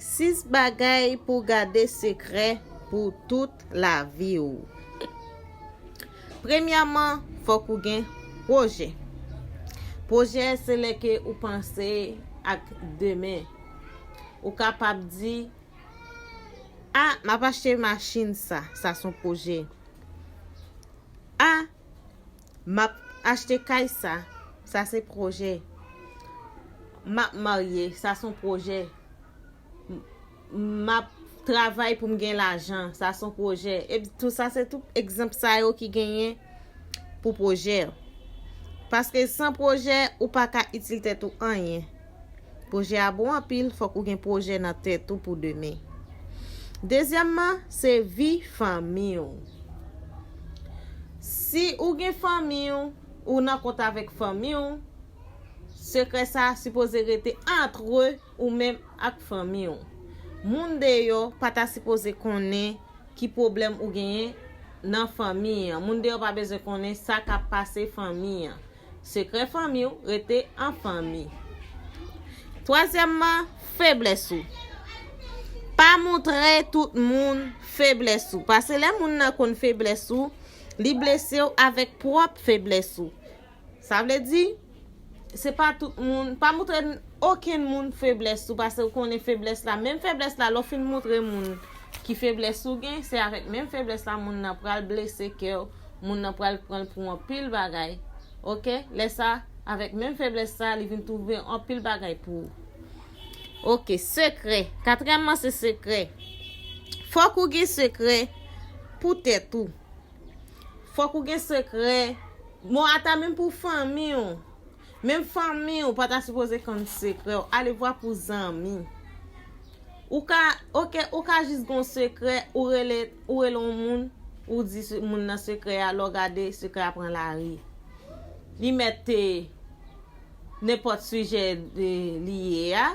Sis bagay pou w gade sekrè pou tout lavi w. Premyèman, fòk ou gen pwojè. Pwojè se lè ke ou panse ak demen. Ou kapab di, A, m ap achte machin sa. Sa se yon pwojè. A, Map achte kay sa sa se pwojè Map marye sa son pwojè Map travay poum gen lajan sa son pwojè Tout sa se tout egzanp sa yo ki genyen pou pwojè Paske san pwojè ou paka itil tèt ou anyen. Pwojè a bon anpil, fòk ou gen pwojè nan tèt ou pou demen. Dezyèmman, se vi fanmi w. Si ou gen fanmi w, ou nan kont avèk fanmi w, sekrè sa a sipoze rete antre ou menm ak fanmi w. Moun deyò pa ta sipoze konnen ki pwoblèm ou genyen nan fanmi an. Moun deyò pa bezwen konnen sa k ap pase fanmi an. Sekrè fanmi w rete an fanmi. Twazyèmman, feblès ou. Pa montre tout moun feblès ou. Pase lè moun nan konn feblès ou, li blese w avèk pwòp feblès ou. Sa vle di, se pa tout moun, pa montre okenn moun feblès ou, pase ou konnen feblès la. Menm feblès la, lè w fin montre moun ki feblès ou gen, se avèk menm feblès la moun nan pral blese kè w. moun nan pral pranl pou anpil bagay ok lè sa avèk menm feblès sa li vin twouve anpil bagay pou ou ok sekrè katrèman se sekrè fòk ou gen sekrè pou tèt ou fòk ou gen sekrè bon ata menm pou fanmi ou. Menm fanmiw pa ta sipoze konn sekrèw alevwa pou zanmi ou ka ok ou ka jis gen yon sekrè ou rele ou rele yon moun ou di moun nan sekrè a lè w gade sekrè a pran lari li mèt te nenpòt sijè li ye a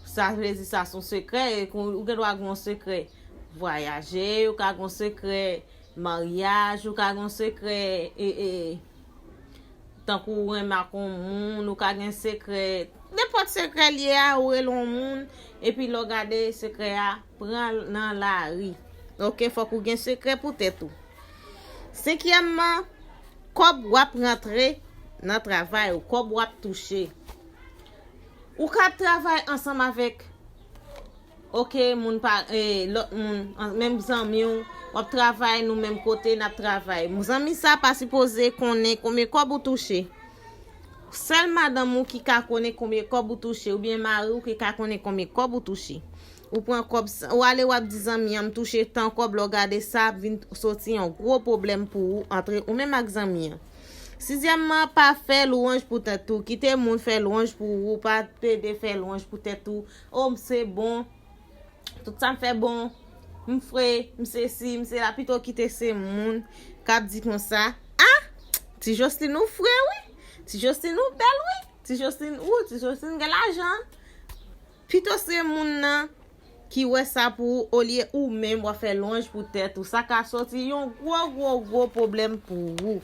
sa vle di sa son sekrè ou gen dwa gen yon sekrè vwayaje ou ka gen yon sekrè maryaj ou ka gen yon sekrè. Tankou ou renmen ak yon moun, ou ka gen sekrè, nenpòt sekrè l ye a, ou rele yon moun, epi lè w gade sekrè a pran nan lari. Ok, fòk ou gen sekrè pou tèt ou. Senkyèmman, kòb w ap rantre nan travay ou, kòb w ap touche. Ou ka travay ansanm avèk. ok moun pa lot moun menm zanmiw wap travay nou menm kote nap travay zanmi sa pa sipoze konnen konbyen kob ou touche sèl madanm ou ki ka konnen konbyen kob ou touche oubyen mariw ki ka konnen konbyen kob ou touche ou pran kob sa ou ale wap di zanmi an m touche tan kob lè w gade sa ap vin soti yon gwo pwoblèm pou ou antre ou menm ak zanmi an. Sizyèmman, pa fè lwanj pou tèt ou. Kite moun fè lwanj pou ou, pa plede fè lwanj pou tèt ou. O, m se bon, tout sa m fè bon, m fre, m se si, m se la. Pito kite se moun k ap di konsa, A! Ti Joslin ou fre wi! Ti Joslin ou bèl wi! Ti Joslin, ou, ti Joslin gen lajan! Pito se moun nan ki wè sa pou ou olye ou menm wap fè lwanj pou tèt ou sa ka sòti yon gwo gwo gwo pwoblèm pou ou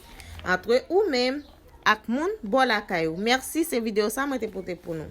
antre ou menm ak moun bò lakay ou mèsi se video sa mwen te pote pou nou.